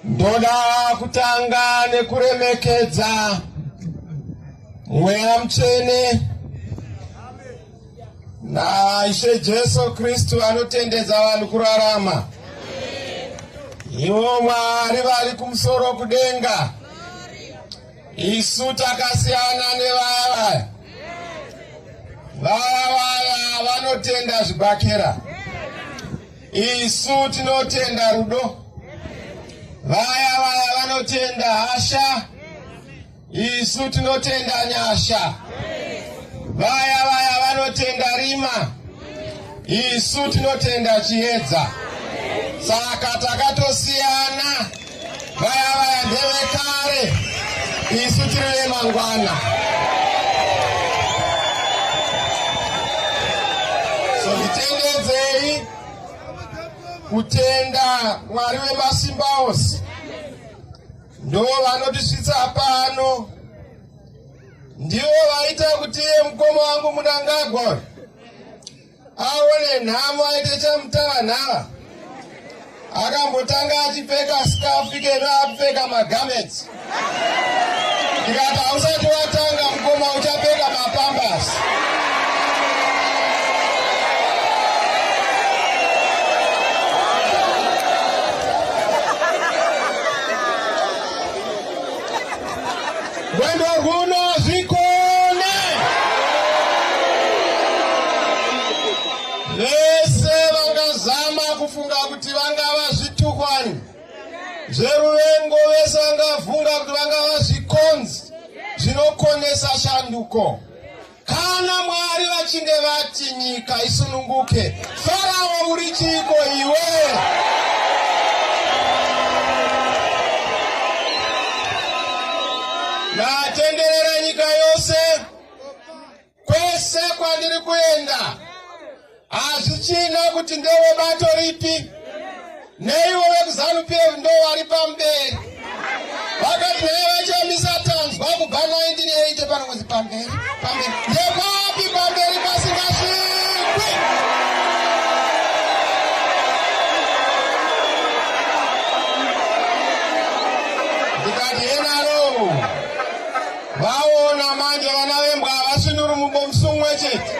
Ndoda kutanga nekuremekedza mweya mutsvene naishe Jesu Kristu anotendedza vanhu kurarama. Ivo Mwari vari kumusoro kudenga, isu takasiyana nevaya vaya vaya vanotenda zvibhakera. Isu tinotenda rudo, vaya vaya vanotenda hasha, isu tinotenda nyasha, vaya vaya vanotenda rima, isu tinotenda chiedza. Saka takatosiyana. Vaya vaya ndevekare, isu tiri vemangwana. So titendedzei kutenda Mwari wemasimba ose ndo vanotisvitsa pano, ndivo vaita kuti iye mukoma wangu Munangagwa aone nhamo aite chamutavanhava akambotanga achipfeka skafu ikeno akupfeka magamets ndikati hausati watanga mukoma uchapfeka mapambas Mwendo kuno zvikone vese vangazama kufunga kuti vangava zvitukwani zveruvengo vese vangavunga kuti vangava zvikonzi zvinokonesa shanduko Kana Mwari vachinge vati nyika isununguke, Farao uri chiiko iwe? Ndatenderera nyika yose kwese kwandiri kuenda. hazvichina kuti ndewe bato ripi neivo vekuzanu p f ndo vari pamberi vakati naye vachiyamisa tanzwa kubva 1980 pano kuzi pamberi pamberi ndekwapi pamberi pasingasvikwi ndikati enaro Vaona manje vana vembwa havasunuri mubomsu umwe chete,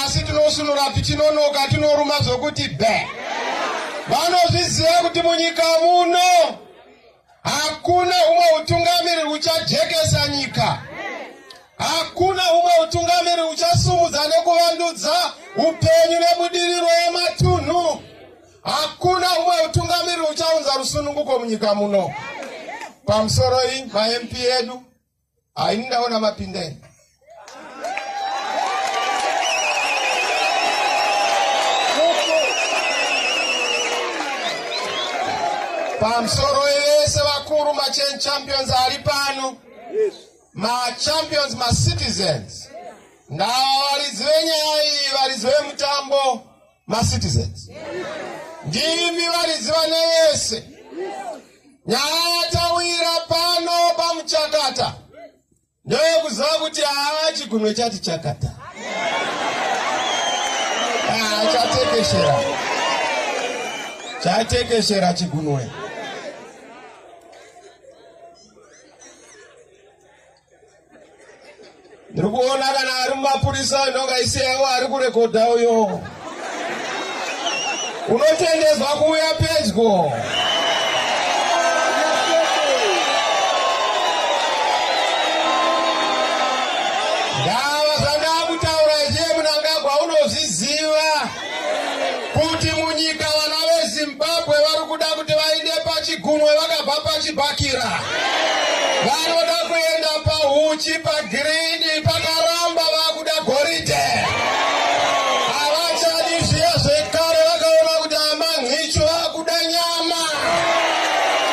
asi tinosunura tichinonoka, tinoruma zvokuti be. Vanozviziva kuti munyika muno hakuna umwe utungamiri uchajekesa nyika, hakuna umwe utungamiri uchasumudza nekuvandudza upenyu nebudiriro yematunhu. Hakuna umwe utungamiri uchaunza rusununguko munyika muno. Pamusoro iyi maMP edu haini ndaona mapindeni. Pamusoro yese vakuru machan champions ari pano. Yes. Machampions macitizens. Yes. Now, Arizona, Arizona, Mutambo. macitizens ndimi varidzi vane vese nyaya yatawira pano pamuchakata ndoyekuziva kuti haa chigunwe chati chakata ah, chatekeshera chatekeshera chigunwe ndiri kuona kana ari mumapurisa ndongaisiyawo ari kurekodha uyo unotendezwa kuuya pedyo kuti munyika vana vezimbabwe vari kuda kuti vaende pachigunwe vakabva pachibhakira vanoda kuenda pahuchi pagirini pakaramba vakuda goridhe havachadi zviya zvekare vakaona kuti amanhicho vakuda nyama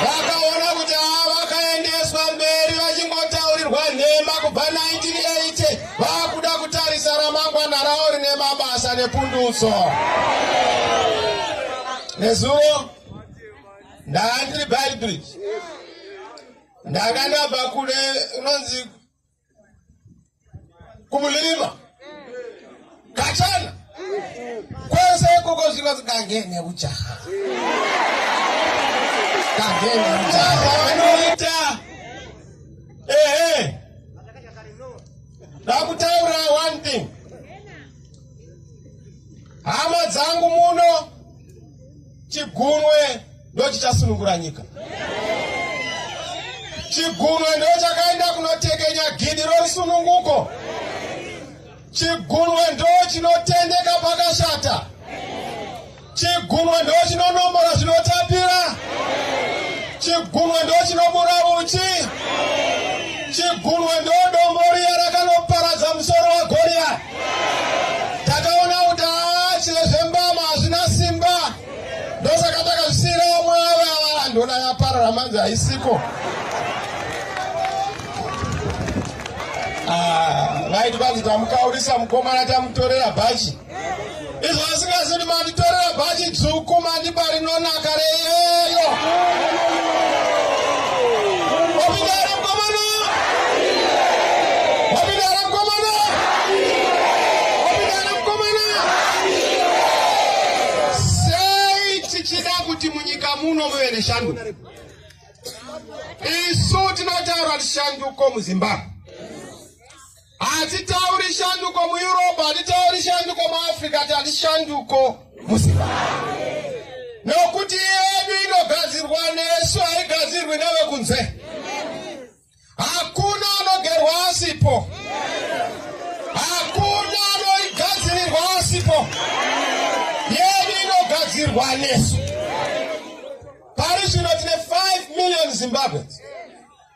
vakaona kuti ava vakaendeswa mberi vachingotaurirwa nhema kubva 1980 Vakuda kutarisa ramangwana ravo rine mabasa nepundutso. Nezuro ndanga ndiri Beitbridge, ndanga ndabva kule unonzi kumulirima Kachana. Kwese koko zviro zikangene ujaha. Kangene ujaha vanoita. Ehe. Ndakutaura one thing. Hama dzangu muno chigunwe ndochichasunungura nyika. Chigunwe ndochakaenda kunotekenya gidi rorusununguko. Chigunwe ndo chinotendeka pakashata. Chigunwe ndo chinonombora zvinotapira. Chigunwe ndo chinobura uchi. Chigunwe ndo dombo riya rakanoparadza musoro waGoriya. Takaona kuti haa chezvembama hazvina simba. ndosaka takazvisiyira vamwe vava ndona yaparara manzi haisiko ah, vaiti vanzi tamukaurisa mukomana tamutorera bhachi izvo vasingazidi manditorera bhachi dzvuku mandiba rinonaka reyeyo sei tichida kuti munyika muno muve neshanduko isu tinotaura shanduko muzimbabwe hatitauri shanduko mueurope hatitauri shanduko muafrica ti hatishanduko muzimbabwe nokuti yedu inogadzirwa nesu haigadzirwi nevekunze Hakuna anogerwa asipo. Hakuna anoigadzirirwa asipo. Yedu inogadzirwa nesu. Pari zvino tine 5 million Zimbabweans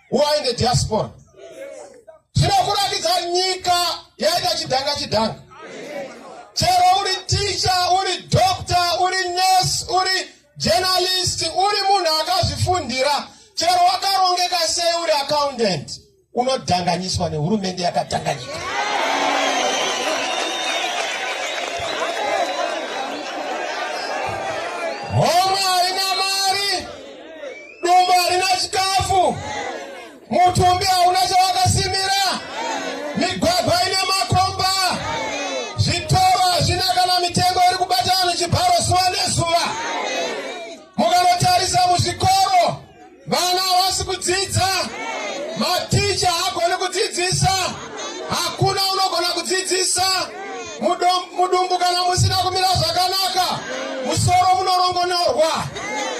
who are in the diaspora. Zvinokuratidza nyika yaita chidhanga chidhanga. Chero uri teacher, uri doctor, uri nurse, uri Journalist uri munhu akazvifundira chero wakarongeka sei uri accountant unodhanganyiswa nehurumende yakadhanganyika homwe haina mari dumbu harina chikafu Mutumbi hauna chawakasimira, migwagwa ine makomba, zvitoro hazvina kana mitengo iri kubata vanhu chibharo zuva nezuva. Mukanotarisa muzvikoro, vana havasi kudzidza, maticha haagoni kudzidzisa, hakuna unogona kudzidzisa. Mudumbu kana musina kumira zvakanaka, musoro munorongonorwa.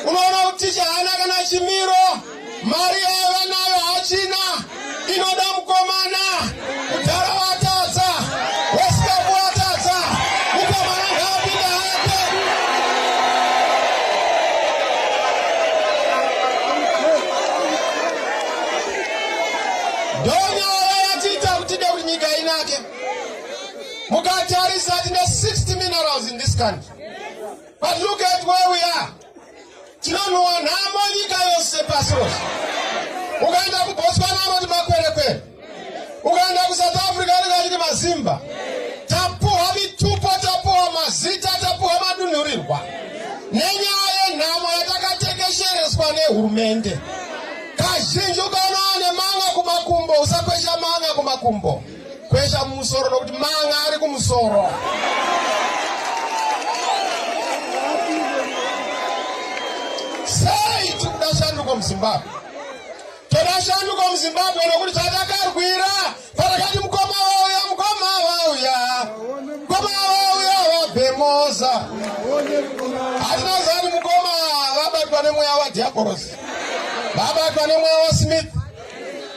Unoona kuti ticha haana kana chimiro. mari yaiva nayo hachina inoda mukomana mudhara watadza wesikapu watadza mukomana ngaapinda hake ndonyaya yatiita kutide kuti nyika inake mukatarisa tine 60 minerals in this country but look at where we are Tinonhuwa nhamo nyika yose pasi rose. Ukaenda kuBotswana anoti makwerekwere. Ukaenda kuSouth Africa anenge achiti mazimba. Tapuhwa mitupo, tapuhwa mazita, tapuhwa madunhurirwa nenyaya yenhamo yatakatekeshereswa nehurumende. Kazhinji ukaona ane manga kumakumbo, usakwesha manga kumakumbo. Kwesha mumusoro nokuti manga ari kumusoro. Sei tiri kuda shanduko muZimbabwe? Toda shanduko muZimbabwe nokuti chatakarwira patakati mukoma wauya mukoma wauya mukoma wauya wabhemoza hatina zani mukoma vabatwa nemweya wadhiabhorosi vabatwa nemweya wasmith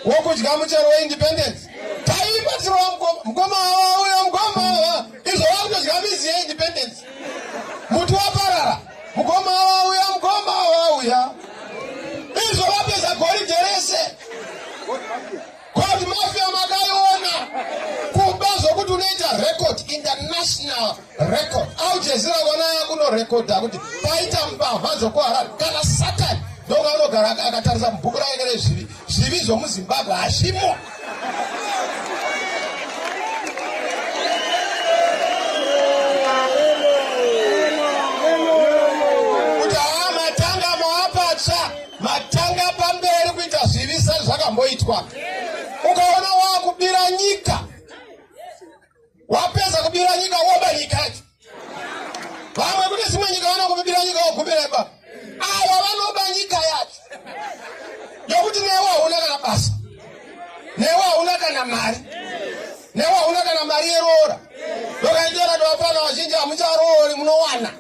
wokudya muchero weindependence taibatsirwa mukoma mukoma wawa uyo mukoma wawa izvo vakutodya mizi yeindependence muti waparara mukoma wawa uya mukoma wawa uya izvo vapedza goridhe rese koti mafia makaiona kuba zvokuti unoita record international record au jezira vana kunorekodha kuti paita mbavha dzokuharari kana satani ndonga anogara akatarisa mubhuku rake rezvivi zvivi zvomuzimbabwe hazvimo kuti haa matanga maapatsva matanga pamberi kuita zvivi sezvakamboitwa ukaona waakubira nyika wapedza kubira nyika woba nyika yacho vamwe kune dzimwe nyika vanokubira nyika wogumira ipapo ava vanoba nyika yacho yokuti newe hauna kana basa newe hauna kana mari newe hauna kana mari yeroora ndokaitera tovapana vazhinji hamucharoori munowana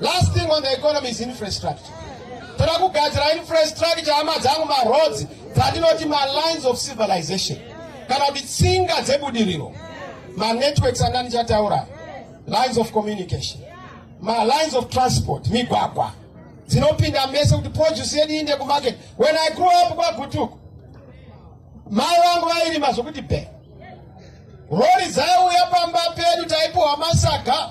Last thing on the economy is infrastructure. Toda kugadzira infrastructure hama dzangu maroads dzandinoti malines of civilization kana kuti tsinga dzebudiriro manetworks anga ndichataura lines of communication malines of transport migwagwa dzinopinda mese kuti produce yedu iinde kumarket when i grew up kwagutuku mai vangu vairima zvokuti be rori dzaiuya pamba pedu taipiwa masaga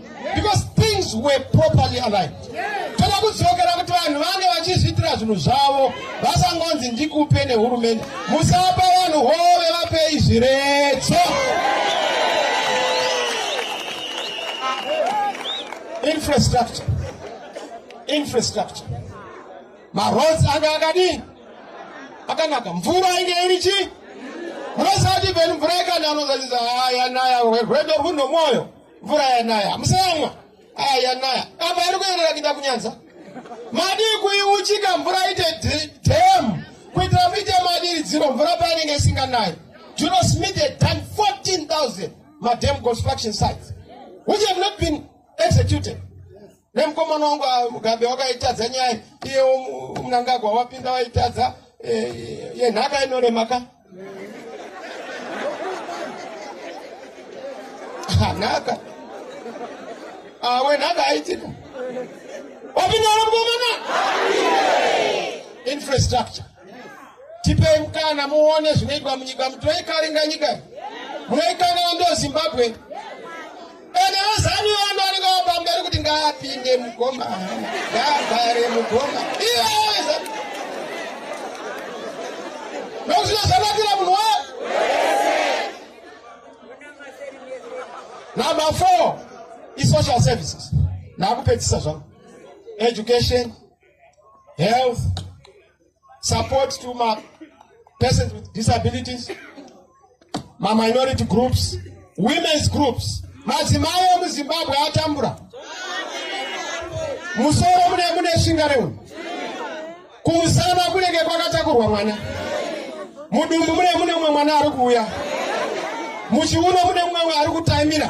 because things were properly aligned toda kudzokera kuti vanhu vange vachizviitira zvinhu zvavo vasangonzi ndikupe nehurumende musapa vanhu hove vapei zviredzo infrastructure infrastructure maroads anga akadii akanaka mvura inge iri chii munosati venu mvura ikananozazisa haya naya rwedo rwunomwoyo mvura yanaya hamusayamwa aya yanaya apa iri kuenera kuita kunyanza madii kuiuchika mvura ite dam kuitira muite madiridziro mvura painenge isinganayi juno smith had done 14000 madam construction sites which have not been executed nemukomana wangu ah, mugambe wakaitadza nyaya iyewo munangagwa wapinda waitadza eh, yenhaka inorema ka ah, nhaka ah, wenhaka aitika wapinda ro mukomana infrastructure tipei mukana muone zvinoitwa munyika mutoikaringa nyika munoikanana ndo zimbabwe Ene wezanu wanu anenge wapamberi kuti ngaapinde mugoma ngaagare mugoma iweza nokuti zvakanakira munhu wa number four isocial services naakupedzisa zvangu education health support to ma persons with disabilities ma minority groups women's groups madzimai emuzimbabwe atambura musoro mune mune shinga reunhu kumusana kunenge kwakatakurwa mwana Mudumbu mune mune mumwe mwana ari kuuya. Muchiuno mune mumwe ari kutaimira.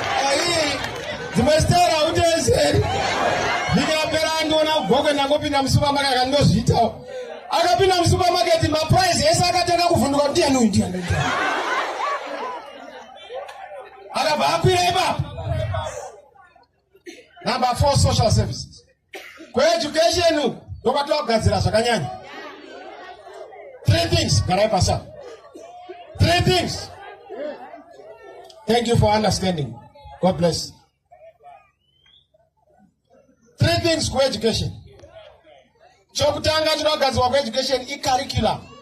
dzimwe stera utezeri ndikapera andiona kugogo ndangopinda musupermarket akandozviitawo akapinda musupermarket maprice ese akatanga kuvhunduka kuti ndiani uyu ndiani akabva akwira ipapo number four social services kueducation uku ndokwatova kugadzira zvakanyanya three things garai pasa three things thank you for understanding god bless three things kueducation chokutanga chinogadzirwa kueducation icurriculum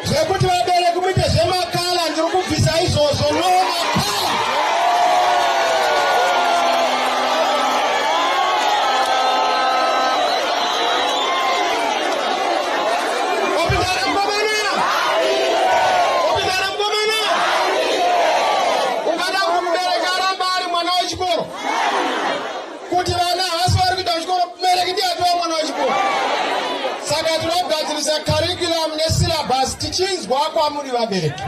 zvekuti vabereki muite zvemakala ndiri kubvisa izvozvo no makala opindana mukomana opindana mukomana ungada kumubereka aramba ari mwana wechikoro kuti vana havasi vari kuita chikoro mubereki ndiye atova mwana wechikoro saka tinogadzirisa curriculum nesyllabus tichinzwa kwamuri vabereki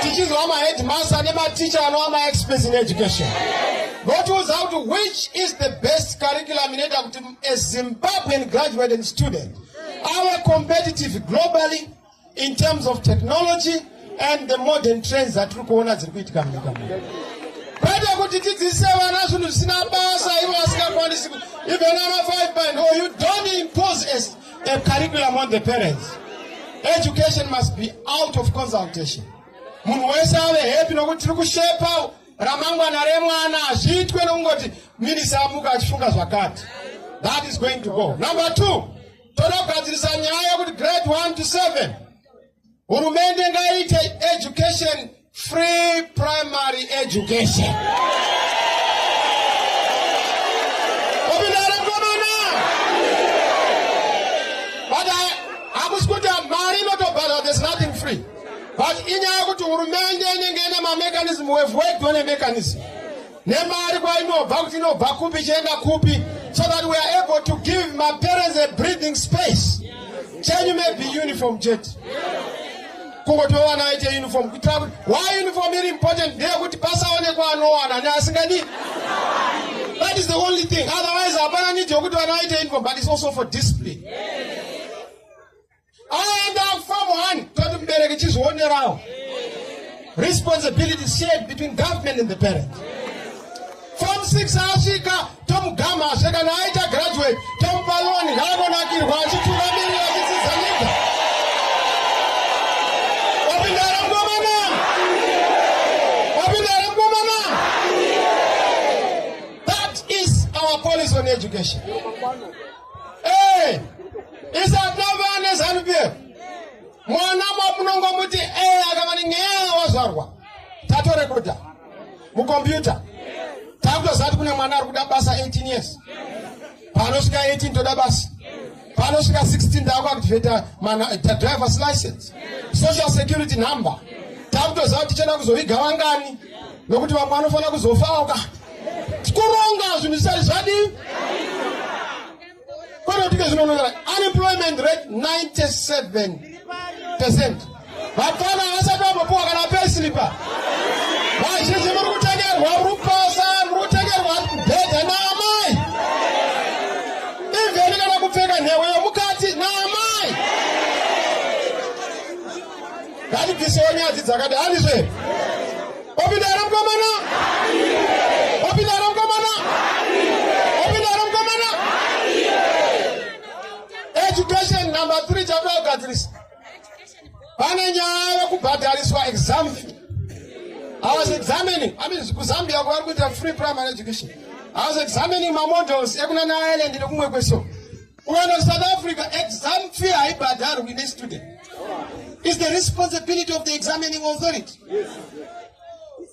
tichinzwa maheadmaster nematicha anova maexperts in education votiudza kuti which is the best curriculum inoita kuti a zimbabwean graduated student ave competitive globally in terms of technology and the modern trends dzatiri kuona dziri kuitika munyika muno kwete kuti tidzidzise vana zvinhu zvisina basa ivo vasingakwanisi even ana five band or you don't impose as a curriculum on the parents education must be out of consultation munhu wese ave happy nokuti tiri kushepa ramangwana remwana hazviitwe nokungoti minisa amuka achifunga zvakati that is going to go number two Tonogadzirisa nyaya yekuti grade 1 to 7 hurumende ngaite education free primary education. but inyaya yekuti hurumende inenge ine mamechanism we've worked on a mechanism nemari kwainobva kuti inobva kupi ichienda kupi so that we are able to give my parents a breathing space chenyu maybe uniform chete kungotowana vaite uniform kuitira kuti why uniform iri important ndeyekuti pasaonekwa anowana neasingadi that is the only thing otherwise hapana need yokuti vana vaite uniform but it's also for discipline yeah. aenda kufamu hani toti mubereki chizvionerawo responsibility shared between government and the parent form 6 asvika tomugama asve kana aita graduate tomupa loni ngaanonakirwa achitungamirira achidzidza nyika wapindara mkomana wapindara mkomana that is our policy on education mukombiyuta takutoziva kuti kune mwana ari kuda basa 18 years panosvika 18 toda basa panosvika 16 taakuaktivata drivers license social security number takutoziva kuti tichada kuzoviga vangani nokuti vamwe vanofanira kuzofaoka kuronga zvinhu zvisati zvadii kwete kuti zvinonongera unemployment rate 97 percent vapfana vasati vambopuwa kana pesilipa vazhinji muri kutengerwa rupasa muri kutengerwa bhedha naamai ivheni kana kupfeka nhewe yomukati naamai ngatibvisewo nyadzi dzakati handizve opinda here mukomana opinda here mukomana opinda here mukomana education number three chakuda kugadzirisa pane nyaya yekubhadhariswa exam i was examining i mean kuzambia kwavari kuita free primary education i was examining mamodels ekunana ireland nekumwe kweso Well, South Africa, exam fee haibhadharwi with a student. Is the responsibility of the examining authority. Yes.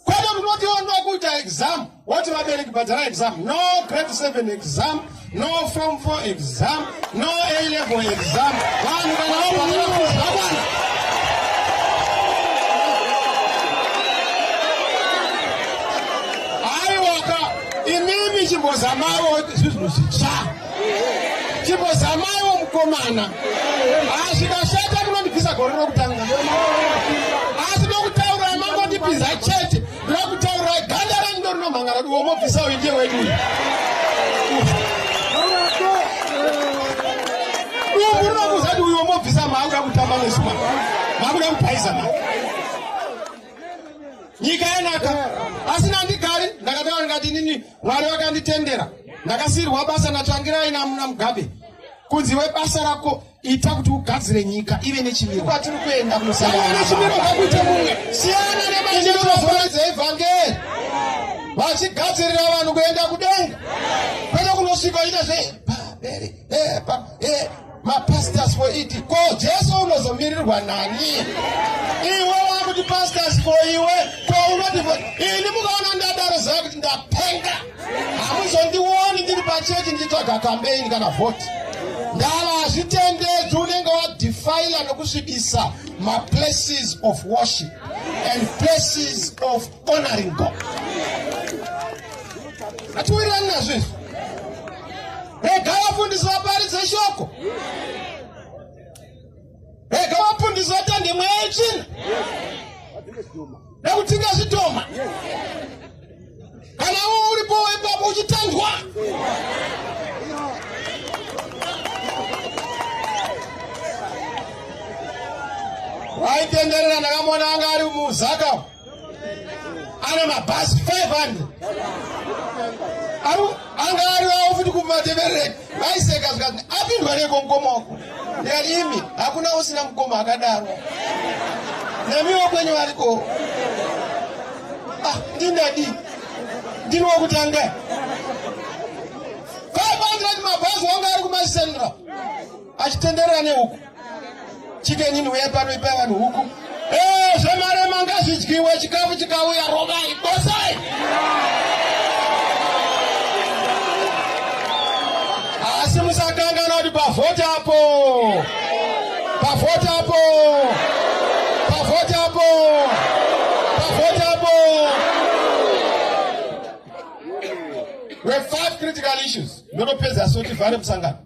Kwete kunoti wanga kuita exam, woti vabereki bhadhara exam. No grade 7 exam, no form 4 exam, no A level exam. Vanhu kana wabhadhara kuzvakwana. Aiwaka, imimi chimbozamawo zvinhu zvitsva. chimbozamaiwo mukomana azvikashata ah, munondibvisa gore rokutanga asi nokutaura mangondipinza chete ndokutaura ganda renyu ndorinomhangara diwo mobvisa uyu ndiye wedu dumbu rinokuza ti uyu womobvisa maakuda kutamba nesuma maakuda kupaiza ma nyika yanaka asi nandigari ndakataura ndikati inini Mwari vakanditendera ndakasiyirwa basa natsvangirai namuna mugabe kunzi webasa rako ita kuti ugadzire nyika ive nechimiro kwatiri kuenda kunosanganaechimiro kakuite mumwe siyana nemachirozoa dzeevhangeri vachigadzirira vanhu kuenda kudenga kwete kunosvika ita zve eh, pa, eh, mapastors for it ko jesu unozomirirwa nani iwe wakuti pastors for iwe ko unoti ini mukaona ndadaro zaa kuti ndapenga hamuzondioni ndiri pachechi ndichitsvaga kambeini kana vhoti ndava hazvitendedzi unenge wadefila nokusvibisa maplaces of worship and places of honoring God. Hatiwirirani nazvo izvi. Rega vafundisi vaparidze shoko. Rega vafundisi vatande mweya yetsvina. Nekutinga zvitoma. Kana uwo uripo wepapo uchitandwa. Waitenderera ndakamona anga ari muzaka. ana mabhazi 500 anga ariwawo futi kumateverere vaiseka zvikati apindwa neko mukoma wako ndikati imi hakuna usina mukoma akadaro namiwo kwenyu variko ah, ndindadi ndini wokutanga 500 mabhazi wanga ari kumasendra achitenderera nehuku chikenyi ndiuya pano ipai vanhu huku ee eh, zvemarema ngazvidyiwe chikafu chikauya rovai bosai asi musakangana kuti pavhoti apo pavhoti apo pavhoti apo pavhoti apo we five critical issues ndotopedza sotivhare musangano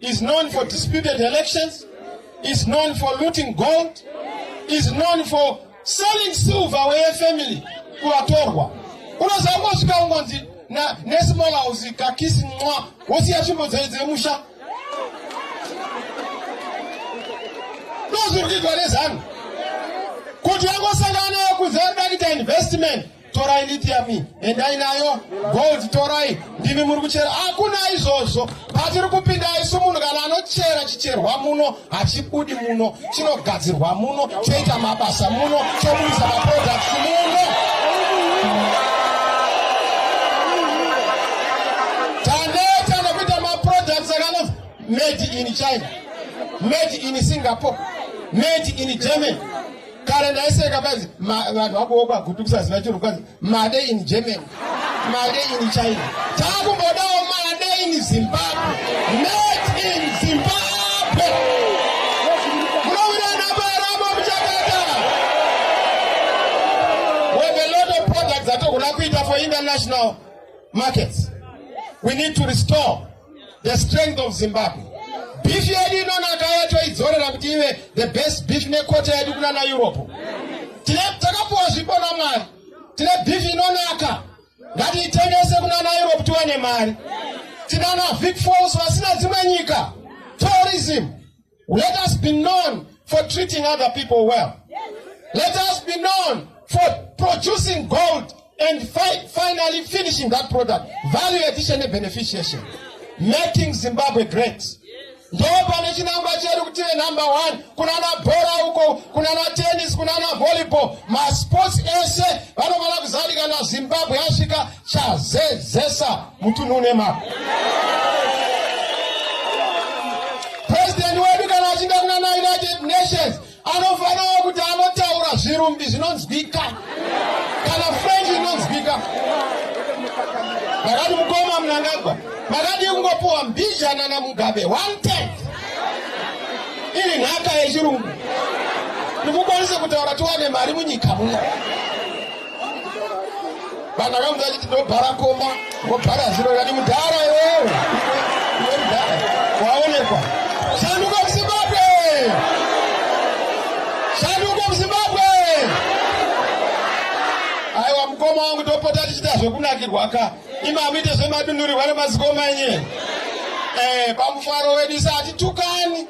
is known for disputed elections, is known for looting gold, is known for selling silver where family kuvatorwa unoziva kosvika ungonzi nesmall house kakisi mwa wosiya tsvimbo dzei dziri musha ndozviri kuitwa nezanu kuti vangosangana nayo kuzarida kuita investment torai lithium endai nayo gold torai ndimi muri kuchera hakuna izvozvo patiri kupinda isu munhu kana anochera chicherwa muno hachibudi muno chinogadzirwa muno choita mabasa muno chobudisa maproducts muno taneta nekuita maproducts akano made in china made in singapore made in germany kare ndaiseka kwanzi vanhu vakuwo kwagutukisa zina chiro kwanzi made in germany made in china takumbodawo made in zimbabwe made in zimbabwe munovirana paramo muchakata with a lot of products atokuda kuita for international markets we need to restore the strength of zimbabwe beef yedu inonaka yatoidzorera kuti ive the best beef nekota yedu kuna na europe tine takapuwa zvipo namwari tine beef inonaka ngatiitengese kuna na europe tiwane mari tinana vic falls vasina dzimwe nyika tourism Let us be known for treating other people well. Let us be known for producing gold and fi finally finishing that product. Value addition and beneficiation. Making Zimbabwe great. ndo pane chinangwa chedu kuti ve number one kunana bhora uko kunana tennis kunana volleyball masports ese vanofanira kuzadikana zimbabwe yasvika chazezesa mutunhu une mari president wedu kana achinda kunana united nations anofanira kuti anotaura zvirumbi zvinonzwika kana french inonzwika makati mukoma munangagwa makati kungopuwa mbijana namugabe one ten iri nhaka yechirungu ndikukwanisa kutaura tiwane mari munyika muno vanhu akamudza achiti ndobhara komba wobhara ziro kati mudhara iwewe waonekwa shanduka muzimbabwe shanduka muzimbabwe aiwa mukoma wangu topota tichiita zvekunakirwa ka imamuite zvemadunhurirwa nemazikoma enye eh, pamufaro wedu isa hatitukani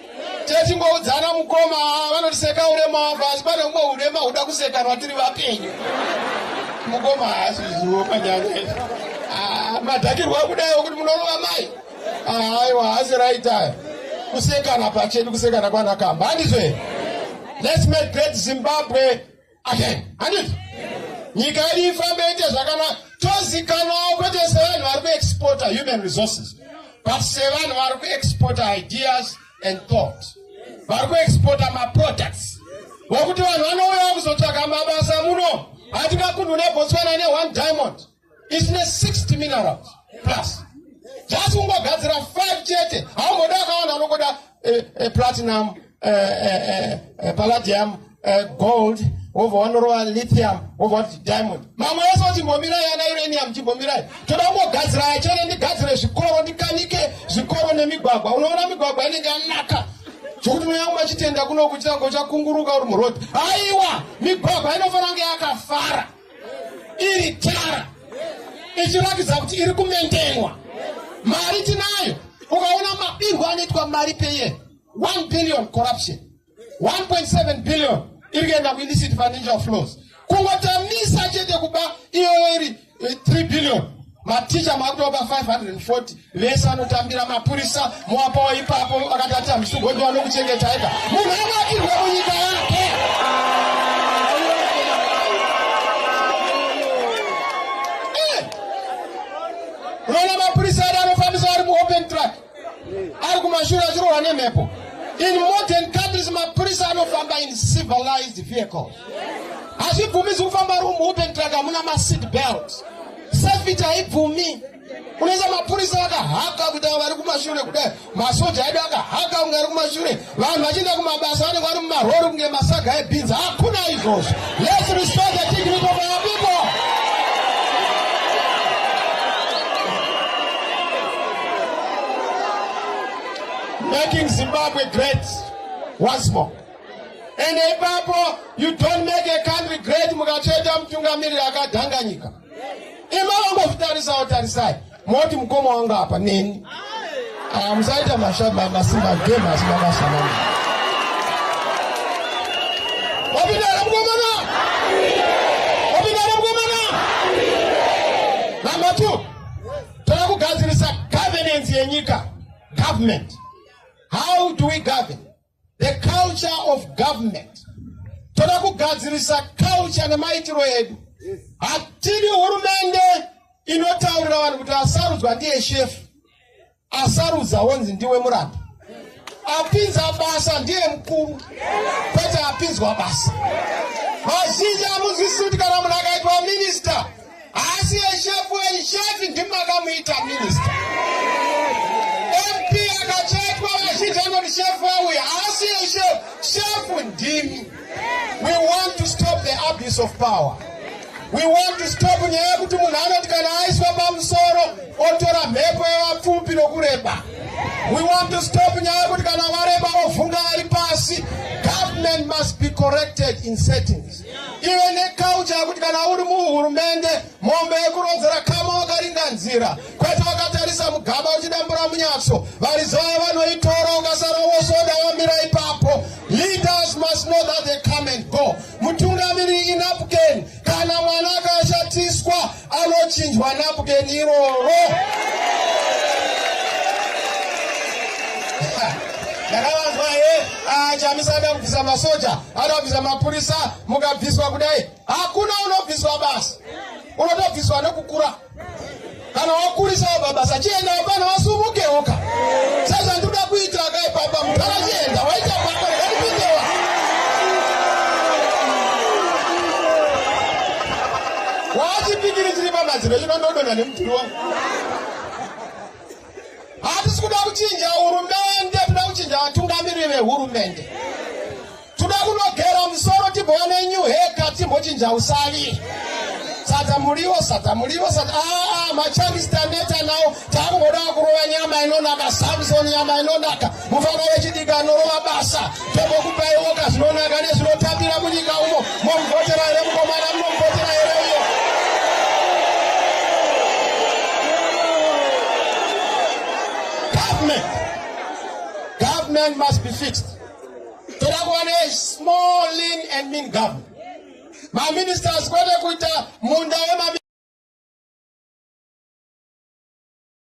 techingoudzana mukoma vanotiseka urema wako asi pane umwe urema huda kusekanwa tiri vapenyu mukoma haasi zvizivo panyanya izvi ah, madhakirwa kudai wekuti munorova mai ah, aiwa haasi raitaya kusekana pachedu kusekana kwanakamba handizve let's make great zimbabwe amen handiti nyika yedu ifambe ite zvakanaka tozikanwawo kwete sevanhu vari kuexporta human resources but sevanhu vari kuexporta ideas and thought vari kuexporta maproducts vokuti vanhu vanouyawo kuzotsvaga mabasa muno hatingakunhu nebotswana ne one diamond isine 60 minerals plus just kungogadzira 5 chete haumboda akawanda unongoda eh, eh, platinum eh, eh, eh, eh palladium eh, gold wobva wanorova lithium wobva wati diamond mamwe ese kuti mbomirai ana uranium chimbomirai toda kungogadzira yachene ndigadzire zvikoro ndikanike zvikoro nemigwagwa unoona migwagwa inenge yanaka zvokuti mweya wangu achitenda kunokuchitanga uchakunguruka uri murodhi aiwa migwagwa inofanira kunge yakafara iri tara ichiratidza kuti iri kumendenwa mari tinayo ukaona mabirwo anoitwa mari peye 1 billion corruption 1.7 billion iri kuenda kuillicit financial flows kungotamisa chete kuba iyoyo iri 3 eh, billion maticha makutopa 540 vese anotambira mapurisa moapawo ipapo vakatati hamisi kugondiwa nokuchengeta ega munhu anakirwe munyika yake eh! rona mapurisa ari anofambisa ari muopen track ari kumashure achirohwa nemhepo in modern countries mapurisa anofamba in civilized vehicles hazvibvumizi kufamba ari muopen track hamuna maseat belt Safety haibvumi. Unoisa mapurisa vakahaka kuti avo vari kumashure kudai masoja edu akahaka kunge ari kumashure vanhu vachienda kumabasa vanenge vari mumarori kunge masaga ebhinzi hakuna izvozvo let's restore the dignity of our people making zimbabwe great once more and ipapo you don't make a country great mukacheta mutungamiriri akadhanganyika ima wangozvitarisawo tarisai moti mukoma wangu apa neni aya musaita masimba game asi makasanana wapindara mukomana wapindara mukomana number two toda kugadzirisa governance yenyika government how do we govern The culture of government. Toda kugadzirisa culture nemaitiro edu. Hatidi hurumende inotaurira vanhu kuti asarudzwa ndiye shefu. Asarudza wonzi ndiwe muranda. Apinza basa ndiye mkuru. Kwete apinzwa basa. Vazhinji amunzwisisi kuti kana munhu akaitwa minister Asi eshefu eshefi ndimakamuita minista. MP akachetwa vazhinji anoti shefu auya asi eshefu shefu ndimi. We want to stop the abuse of power. We want to stop nyaya yekuti munhu anoti kana aiswa pamusoro otora mhepo yevapfupi nokureba. We want to stop nyaya yekuti kana vareba ovhunga vari pasi. Government must be corrected in settings. ive nekaucha yekuti kana uri muhurumende mombe yekurodzera kama wakaringa nzira kwete wakatarisa mugaba uchidambura munyatso varizaya vanoitora ukasara wosoda wamira ipapo leaders must know that they come and go mutungamiri inapken kana mwana akashatiswa anochinjwa napukeni iroro ndakavanzwa he ah, chamisa ada kubvisa masoja ada kubvisa mapurisa mukabviswa kudai hakuna unobviswa basa unotobviswa nekukura kana wakurisa wababasa chienda wapana wasumukewoka sezvandikuda kuita akaipapa mutara chienda waita papa Wachipikiri chiri pamadziro chino ndodonha nemudhuri wangu. Hatisi kuda kuchinja hurumende, toda kuchinja vatungamiriri vehurumende. Toda kunogera musoro tibone new haircut timbochinja usavi. Sadza muriwo, sadza muriwo, sadza ah, ah machangista neta nawo takungoda kurova nyama inonaka, Samson nyama inonaka. mufana wechidiki anorova basa tombokupaiwoka zvinonaka nezvinotambira munyika umo momuvhotera here mukomana munomuvhotera here uyo government government must be fixed toda kuva ne small lean and mean government maministers kwete kuita munda wema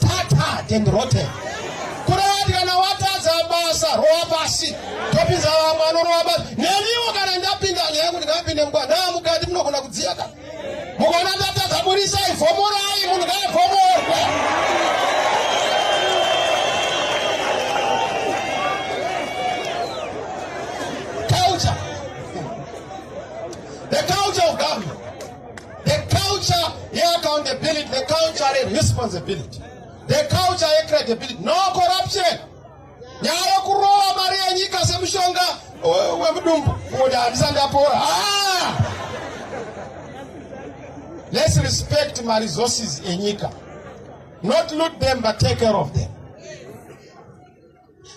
tatad and rotten kurati kana watadza basa rowa pasi topinza vamwe anorowa basi neniwo kana ndapinda nyaya yekuti ngapinde mukwa naa mukati munogona kudziya ka mukona tatadza burisai vhomorai munhu ngaavhomorwe The culture yeaccountability, the culture yeresponsibility, the culture yecredibility, no corruption. Nyaya yokurova mari yenyika semushonga wemudumbu kuti handisa ndapora. Ah! Let's respect my resources enyika. Not loot them but take care of them.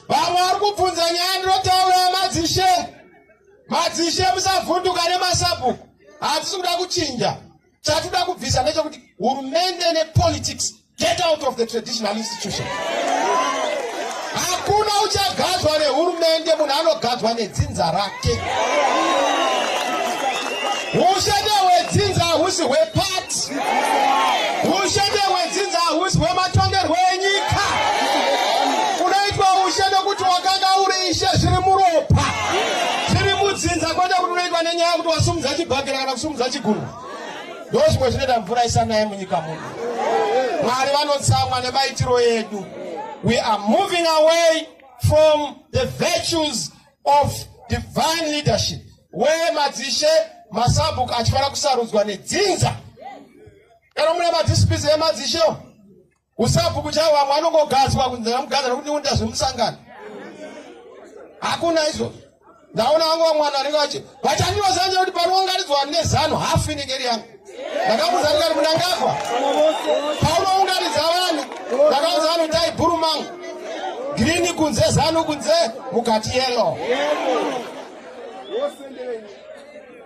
Vamwe vari kubvunza nyaya ndinotaura yamadzishe. Madzishe musavhunduka nemasabhuku. hatisi kuda kuchinja chatida kubvisa ndechekuti hurumende nepolitics get out of the traditional institution hakuna uchagadzwa nehurumende munhu anogadzwa nedzinza rake ushete hwedzinza hahusi hwepati ushete hwedzinza hahusi hwematongerwo enyika Tiri mudzinza kwete kuti unoitwa nenyaya kuti wasumudza chibhakera kana kusumudza chigumbu. Ndozvimwe zvinoita mvura isanaye munyika muno. Mwari vanotsamwa nemaitiro edu. We are moving away from the virtues of divine leadership where madzishe masabhuku achifanira kusarudzwa nedzinza kana mune madzisipizi emadzishewo Kusabhuku chavo vamwe anongogadzwa kunzi namugadzwa nokuti ndiunda zvemusangano. Hakuna izvozvo. Ndaona vangu vamwe vanhu vanenge vachi vachanyoza nje kuti panoungaridzwa nezano hafu inenge iri yangu. Ndakamuudza ndikati munangagwa. Paunoungaridza vanhu ndakaudza vanhu dai bhuru mangu. Girini kunze zano kunze mukati yellow.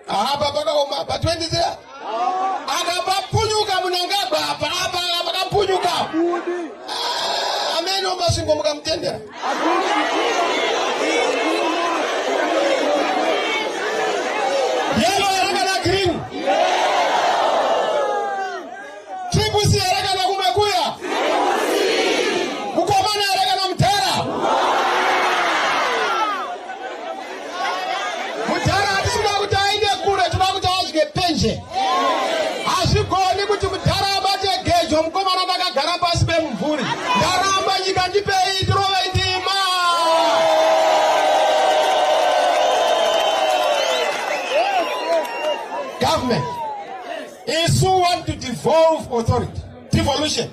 Apa pakaoma apa 23 akapapunyuka munangagwa apa apa pakapunyuka ah, amene omasvingo mukamutendera Triple here kana kumakuya? Mukomana here kana mudhara? Mudhara hatisi kuti aende kure, tinoda kuti adye penje. Hazvigoni kuti mudhara abate gejo mukomana ndakagara pasi pemumvuri. Ndaramba nyika ndipei tirove ndima. Government. isu want to devolve authority devolution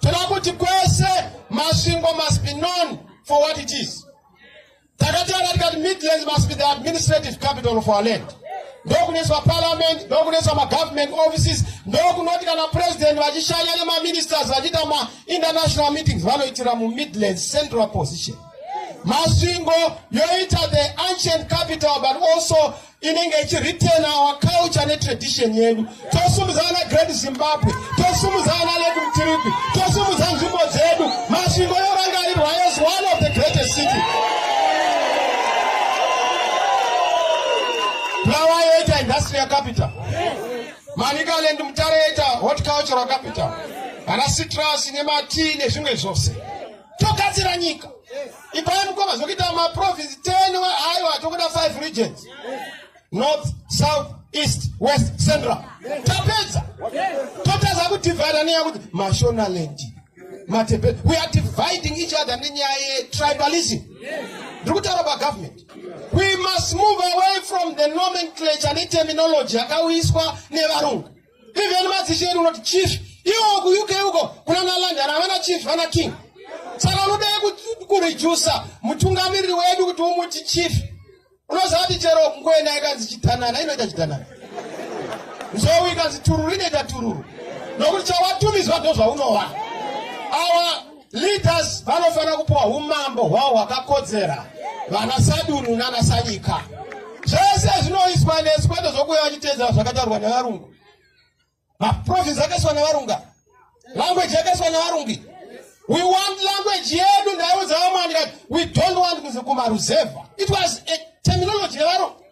toda kuti kwese masvingo must be known for what it is takataura tikati midlands must be the administrative capital of our land ndokunoiswa parliament ndokunoiswa magovernment offices ndokunoti kana president vachishanya nemaministers vachiita mainternational meetings vanoitira mumidlands central position masvingo yoita the ancient capital but also inenge ichiretain our culture netradition yedu tosumudza vana great zimbabwe tosumudza vana lake mtiripi tosumudza nzvimbo dzedu masvingo yorangarirwa as one of the greatest city bulawa yoita industrial capital manicaland mutare yoita hot cultural capital vana citrus nematii nezvimwe zvose togadzira nyika ipai mukoma zvekuita maprovince 10 aiwa tokuda 5 regions north south east west central tapedza totadza kudivhida nenyaya kuti mashonaland matepe we are dividing each other nenyaya yetribalism ndiri kutaura pagovernment we must move away from the nomenclature neterminology yakauyiswa nevarungu even madzishe edu unoti chief iwo kuuk uko kuna nalandana havana chief vana king saka unodai kurejusa mutungamiriri wedu kuti umuti chief unoziva kuti chero kungoenda ikanzi chitanana inoita chitanana nzou ikanzi tururu inoita tururu nokuti chawatumidzwa ndozvaunova awa Leaders vanofanira kupiwa humambo hwavo hwakakodzera vana sadunhu nana sanyika zvese zvinoiswa nesu kwete zvokuya vachiteedzera zvakataurwa nevarungu maprovince akaiswa nevarunga language yakaiswa nevarungi we want language yedu ndaiudza vamwani kati we don't want kumaruzevha it was a terminology yevarungu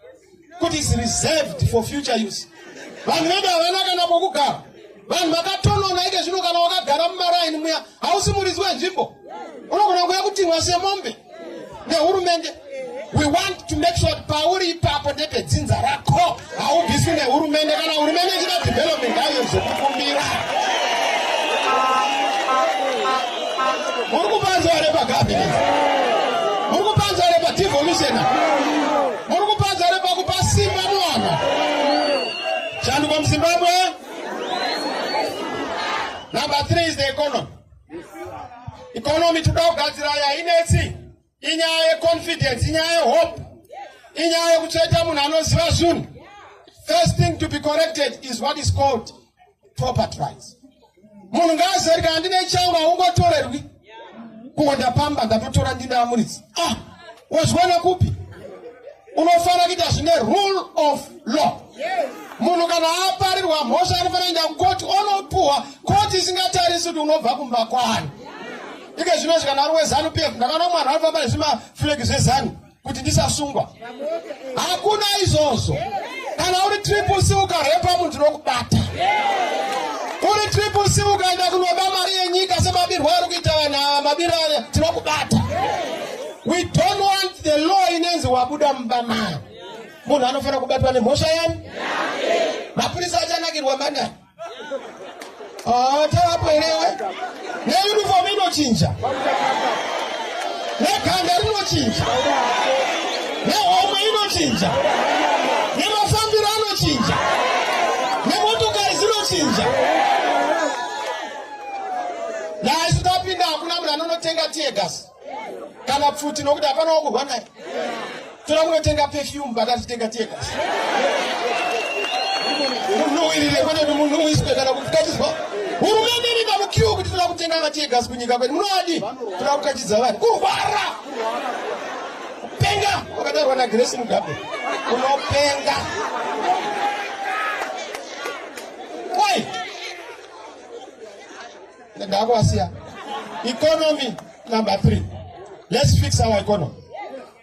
kuti is reserved for future use vanhu vedu havana kana pokugara vanhu vakatonona ike zvino kana wakagara mumaraini muya hausi muridzi wenzvimbo unogona kuya kutimwa semombe nehurumende we want to make sure pauri ipapo ndepedzinza rako haubviswi nehurumende kana hurumende ichida development haiyo zvekukumbira muri kupanzwa repagabinet muri kupanzwa repadevolution Muri kupadza here pakupa simba mwana? Shanduko muZimbabwe. Number three is the economy. Economy toda kugadzira yainetsi inyaya yeconfidence, inyaya yehope, inyaya yekutsveta munhu anoziva zvinhu. First thing to be corrected is what is called property rights munhu ngaazive kuti handine changu haungotorerwi kungo ndapamba ndatotora ndine amuridzi ah wazviwana kupi unofanira kuita zvine rule of law munhu kana aparirwa mhosva anofanira kuenda kukoti onopuhwa koti isingatarisi kuti unobva kumba kwani ike zvino zvikanaro wezanup ndakaona mwana anofamba nezvimaflegi zvezanu kuti ndisasungwa hakuna izvozvo kana uri triple c ukarepa munhu tinokubata uri triple c ukaenda kunoba mari yenyika semabirwo ari kuita vanhu ava mabiro aya tinokubata we don't want the law inenzi wabuda mumba maya munhu anofanira kubatwa nemhosva yani mapurisa achanakirwa mangani Ah, tavapo irewe neuniform inochinja neganda rinochinja nehomwe inochinja nemafambiro anochinja nemotokari dzinochinja naisu tapinda hakuna munhu anonotenga tiegas kana pfuti nokuti hapana wakurwa naye toda kunotenga perfume pakatitenga tega munhu uirire kwete kuti munhu uiswe kana kukachizwa hurumende iri pamukiwo kuti toda kutenga vatiegas kunyika kwedu munoadi toda kukachidza vanhu kurwara kupenga wakatarwa nagresi mugabe unopenga Ndakasiya. Economy number three. Let's fix our economy.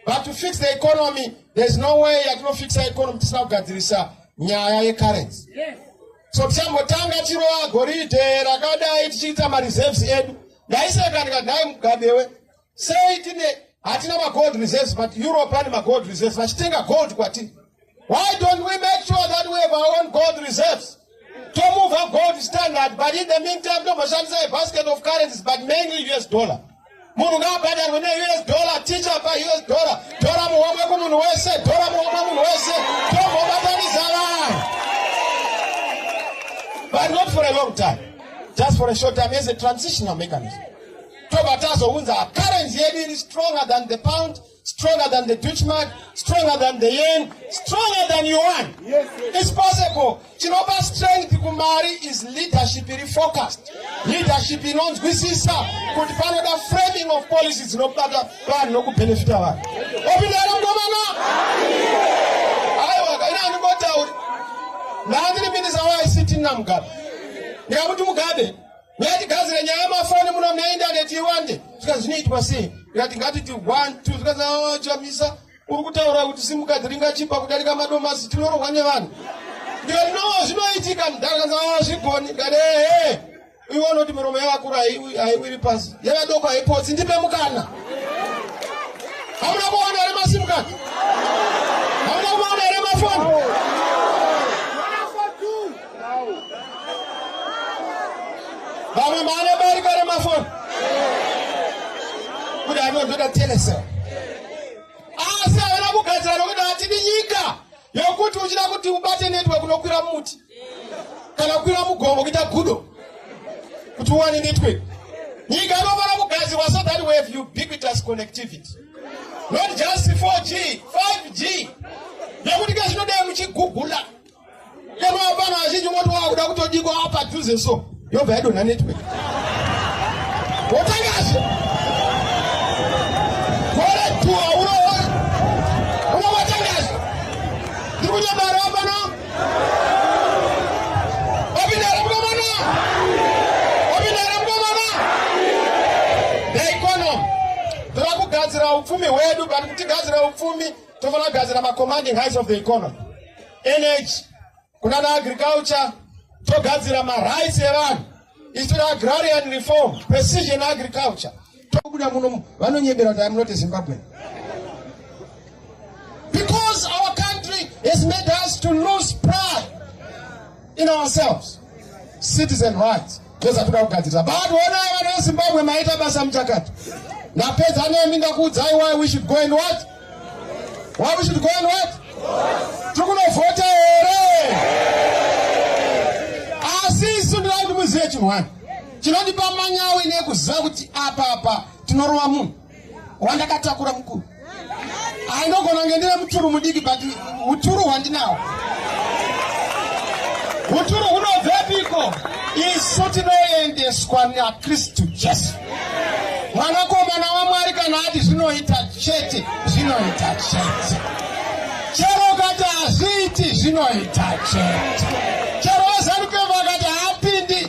But to fix the economy, there's no way yatinofixa economy tisina kugadzirisa nyaya yecurrency. Yes. So tichambotanga chirowa goridhe rakadai tichiita mareserves edu. Ndaiseka ndikadai mugabewe Sei tine hatina magold reserves but Europe ane magold reserves vachitenga gold kwatiri. Why don't we make sure that we have our own gold reserves? To move our gold standard but in the meantime tomboshandisa a basket of currencies but mainly US dollar. Munhu ngaabhadharwe ne US dollar teacher pa US dollar. Tora muhomwe kumunhu wese, tora muhomwe munhu wese. Tombobatanisa vanhu. But not for a long time. Just for a short time as a transitional mechanism. tobva tazounza currency yedu iri stronger than the pound stronger than the dutchmark stronger than the yen stronger than yuan yes, yes. is possible chinopa strength kumari is leadership iri focused leadership inonzwisisa kuti panoda framing of policy dzinobata vanhu nokubenefita vanhu opindana mukomana aiwa kaina andingotauri ndandiri minisa waict namugabe ndikakuti mugabe Wati gadzire nyaya yamafoni muno mune indaneti iwande zvikanzi zvinoitwa sei ndikati ngatiti one two zvikanzi oh, chamisa uri kutaura kuti simukadzi ringachipa kudarika madomasi tinorohwa nevanhu ndikati no zvinoitika mudhara kanzi oh, zvigoni ndikati ehe iwe unoti miromo yavakuru haiwiri pasi yevadoko haipotsi ndipe mukana hamuna kuona here masimukadzi hamuna kuona here mafoni vamwe maane bariko remafoni kuti anozoda telesel asi havana kugadzira nokuti hatidi nyika yokuti uchida kuti ubate network unokwira muti kana kukwira mugomo kuita gudo kuti uwane network nyika inofanira kugadzirwa so that we have ubiquitous connectivity not just 4g 5g nekuti kezvinodei muchigugula Kama hapana wazhinji moti wakuda kutodiko apa dhuze so yobva yadonha network wotangashe gore tu hauna unowatangashe ndiri kunyamara apana wapindara mkomana wapindara mkomana daikono tava kugadzira upfumi hwedu but kutigadzira upfumi tofanira kugadzira macommanding heights of the economy energy kunana agriculture togadzira marights evanhu isu agrarian reform precision agriculture tokuda muno vanonyebera kuti am not a zimbabwean because our country has made us to lose pride in ourselves citizen rights toza toda kugadzirisa but onai vana vezimbabwe maita basa muchakati ndapedza nemi ndakuudzai why we should go and what why we should go and what tiri kunovhota here asi isu ndinaa kuti muzive chinhu wani chinondipa manyawi nekuziva kuti apapa tinorova munhu wandakatakura mukuru ainogona kunge ndine muturu mudiki but uturu hwandinawo uturu hunobvepiko isu tinoendeswa nakristu jesu mwanakomana wamwari kana ati zvinoita chete zvinoita chete chero kati hazviiti zvinoita chete chero vazanukevo vakati haapindi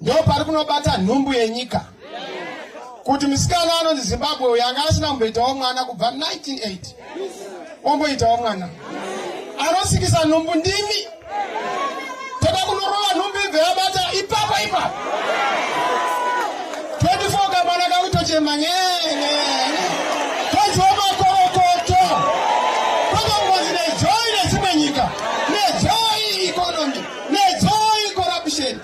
ndo pari kunobata nhumbu yenyika kuti musikana anonzi zimbabwe uyo anga asina kumboitawo mwana kubva 1980 omboitawo mwana anosikisa nhumbu ndimi toda kunorova nhumbu ibve yabata ipapo ipapo 24 kamwana kakutochema nyenyenye toziwa makorokoto tokangozi nezoi nedzimwe nyika nezoi economy nezoi corruption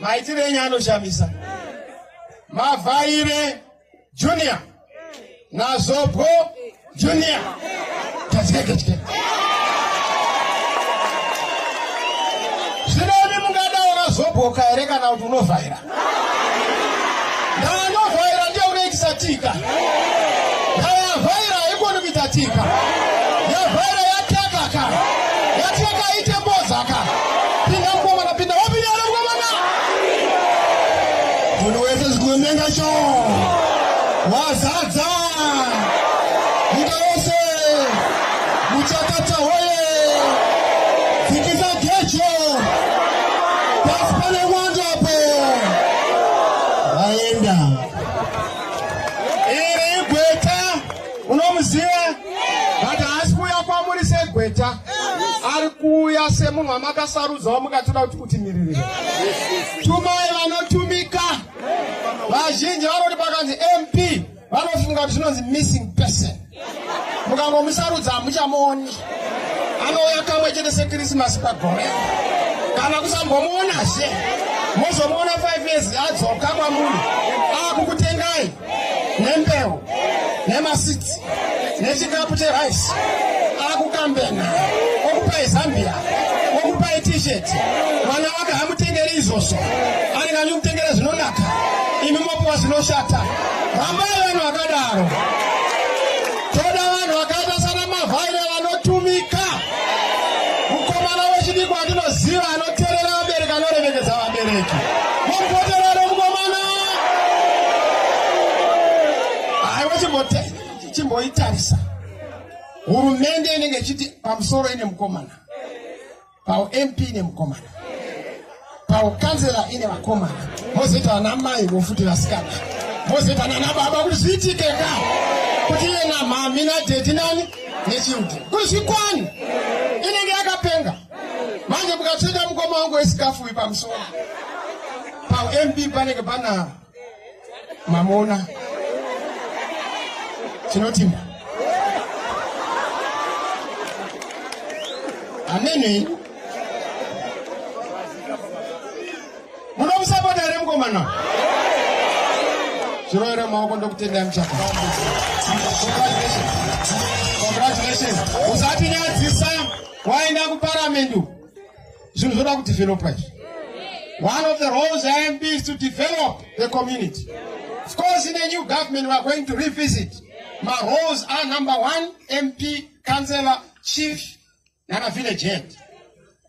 maitire enyu anoshamisa mavhaire junior nazobwo junior tazikekechike zvinemi mungadawo nazobwoka here kana kuti unovhaira ndaanovhaira ndiye unoitisa tika ndaavhaira haikoni kuita tika Pinda mkomana pinda wapinda ule mkomana. Munhu wese zikumenga cho. Wazadza. Nyika yose. Muchakata hoye. Fikisa gecho. Pasi pane mwando apo. Aenda. munomuziva but haasi kuuya kwamuri segweta ari kuuya semunhu wamakasarudza wamukatoda kuti kutimiririra tumai vanotumika vazhinji vanoti pakanzi mp vanofunga kuti zvinonzi missing person mukangomusarudza hamuchamuoni anouya kamwe chete sekrisimasi pagore kana kusambomuonazve mozomuona 5 years adzoka kwamunhu akukutengai nembeu nemasitsi nechikapu cherice akukambena okupai zambia okupai t-shirt mwana wake hamutengeri izvozvo anenge anyi kutengera zvinonaka imi mopiwa zvinoshata rambai vanhu vakadaro Toda vanhu vakaita sana mavhaira vanotumika. Mukomana wechidiki wandinoziva anoterera vabereki anoremekedza vabereki. Mumboterera mukomana. Aiwa chimboitarisa. Hurumende inenge ichiti pamusoro ine mukomana. paump ine mukomana paukanzela ine vakomana mozoita vana mai vofuti vasikana mozoita nana baba kuti zviitike ka kuti iye namhami nadhedhi nani nechildren kuti zvikwani inenge yakapenga manje mukatsveta mukoma wangu wesikafu uyu pamusoro paump panenge pana mamona tinotinda amene munomusapota here mukomana zviroera maoko ndokutendai muchaka congratulations usatinyadzisa waenda kuparamendu zvinhu zvoda kudevelopa izvi one of the roles imb is to develop the community of course in a new government weare going to revisit maroles are number one mp councellor chief nana village head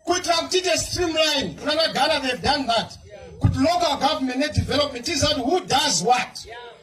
kuitira kuti ite streamline kunanagara they've done that kuti local government nedevelopment tizati who does what yeah.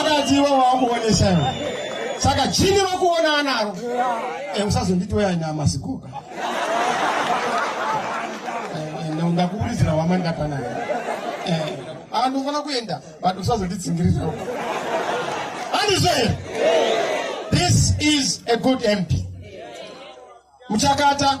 akati iwe wakuonesa iwe saka chini vakuona anaro eh, usazonditi weaina masikuka eh, eh, ndakuburidzira wama ndakanayo aa ndofana kuenda but usazonditsingiririra andizvo here this is a good mp muchakata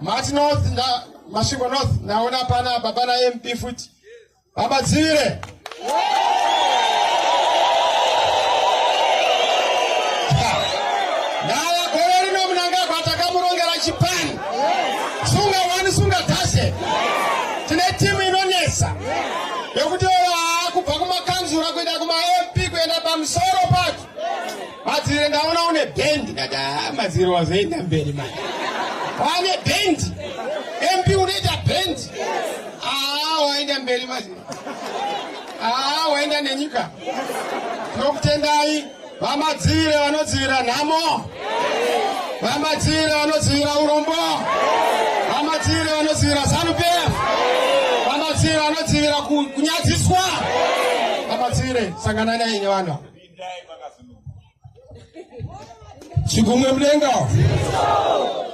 mati north masvingo north ndaona pana baba namp futi baba dzivire ndaya gore rino munangagwa takamurongera chipani sunga wani sunga tashe tine timu inonetsa yekutevera kubva kumakanzura kuenda kumamp kuenda pamusoro pacho madzivire ndaona une bendi kati haa madzivire wazoenda mberi mai wane bendi mp unoita bendi haa waenda mberi madzivire haa waenda nenyika tinokutendai Vamadzivire vanodzivira nhamo. Vamadzivire vanodzivira urombo. Vamadzivire vanodzivira Zanu PF. Vamadzivire vanodzivira kunyadziswa. Vamadzivire sangana nei nevanhu. Chigumwe mudenga.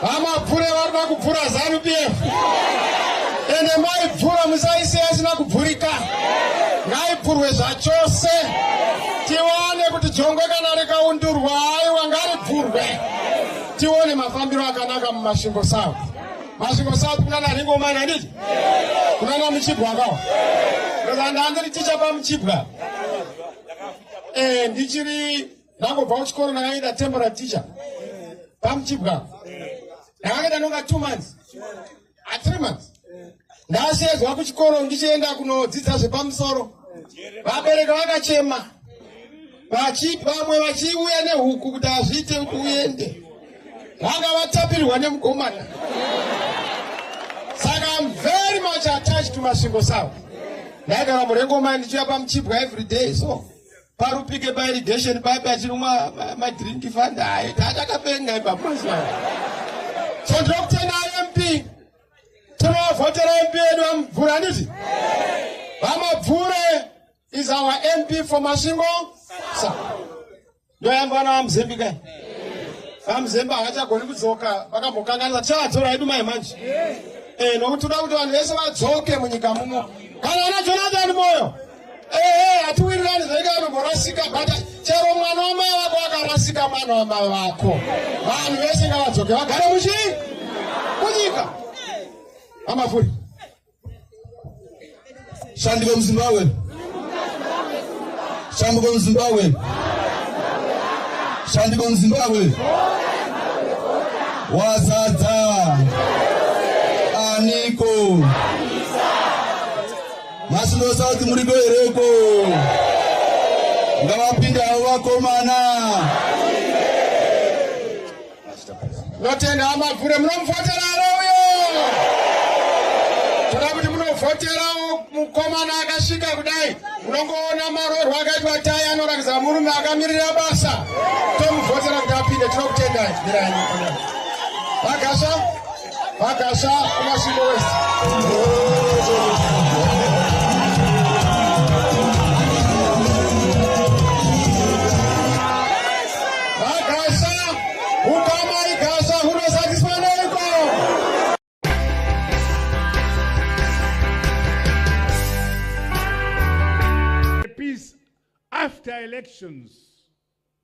Hamabvure varikuda kubvura zanu PF ende maibvura musaisiya isina kubvurika, ngaibvurwe zvachose tiwane kuti jongwe kana rikaundurwa aiwa ngaribvurwe tione mafambiro akanaka mumasvingo south. Masvingo south kunana ringomani handiti kunana muchibwa akawa ndandiri tichapa muchibwa eh, ndichiri ndangobva kuchikoro ndakaita temporary teacher pamuchibwa ndakakaita nonga two months a ah, three months ndasheedzwa kuchikoro ndichienda kunodzidza zvepamusoro vabereki vakachema vamwe vachiuya nehuku kuti hazviite kuti uende vanga vatapirwa nemukomana saka am very much attached to masvingo savo ndaigara murengomai ndichiuya pamuchibwa every day so parupike pairigation papi achinwa madrink fanda haye taatakapenga ipaposa so ndokutenda imp tinovhotera mp yedu vamubvura anditi vamabvure is our mp for masvingo sa ndoyamba vana vamuzembi kai vamuzembi havachagoni kudzoka vakambokanganisa tichavatora yedu mai manje eh, nokuti toda kuti vanhu vese vadzoke munyika mumo kana ana jonathan moyo Ehe, hatiwirirani zvenga anomborasika but chero mwana wamai vako akarasika mwana wamai vako. Vanhu vese ngavadzoke vagare muchi kunyika. Amafuri. Shandiko muZimbabwe. Shandiko muZimbabwe. Shandiko muZimbabwe. Wazadza. Aniko. Masvingo South muriko hereko ngavapinde havo vakomana notenda amabvure munomufotera arouyo toda kuti munovhoterawo mukomana akasvika kudai unongoona marorwa akaitwa tai anorakidza murume akamirira basa tomuvhotera kuti apinde tinokutendai mirai vagasva Vakasha kumasvingo wese. after elections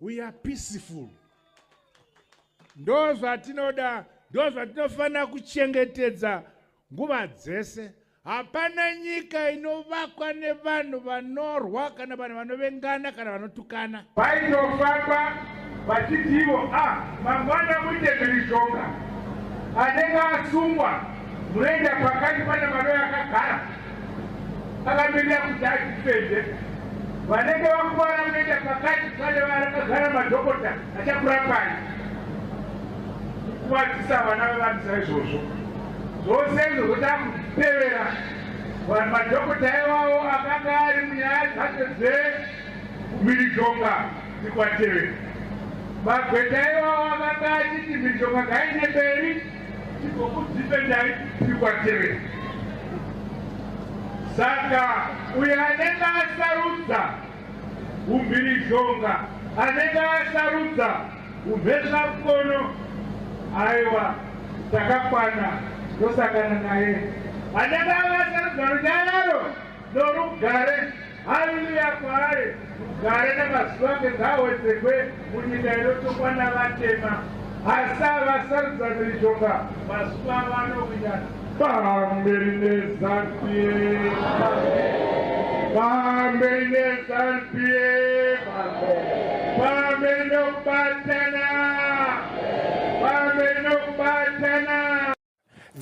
we are peaceful ndo zvatinoda ndo zvatinofanira kuchengetedza nguva dzese hapana nyika inovakwa nevanhu vanorwa kana vanhu vanovengana kana vanotukana vaitofamba vachitivo a ah, mangwana muite mhirizhonga anenge asungwa munoenda pakati pane mano yakagara akatoita kuti atifende vanenge vakuvara kuenda pakati pane varakagara madhokota achakurapai kukuvadzisa vana vevanhu saizvozvo zvose izvo zvoda kutevera vanhu madhokota iwawo akanga ari munyaya dzacho dzemhirizhonga dzikwatevera magweta iwawo akanga achiti mhirizhonga ngaine mberi Tigokudhifendai tiri kwaterera. Saka uyo anenge asarudza umhirizhonga, anenge asarudza umhezvakono, aiwa takakwana tosangana naye. Anenge akasarudza runyararo norugare. Haleluya kwaari gare nemazuva ake ngaawedzekwe munyika inotongwa navatema hasa vasarudza miritonga mazuva vanowinana pamberi nezanpie pamberi nezanpie pamberi nokubatana pamberi nokubatana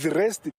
the rest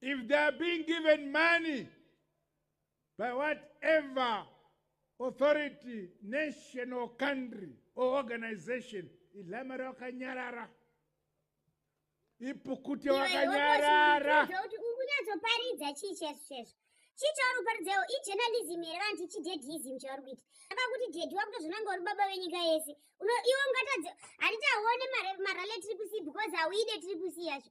If they are being given money by whatever authority, nation or country or organization, ilamara wakanyarara. Ipukute wakanyarara. Ungunyatsoparidza chii chesu chesu. chii chauri kuparidzawo ijournalism here vanhu tichi deadism chauri kuita aba kuti dedi wakutozvonanga uri baba venyika yese iwe ungatadze handiti hauone marale triple c because hauide triple c yacho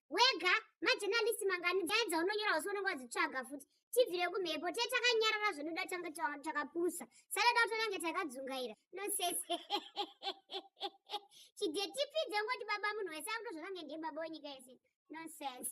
wega majenalisi mangani nyaya dzaunonyora usi unenge wadzitsvaga futi tibvire kumhepo te takanyarara zvinoda tange takapusa sadada utonange takadzungaira nosese chidetipidze ngoti baba munhu wese akuto zvakange ndiye baba wenyika yese nonsense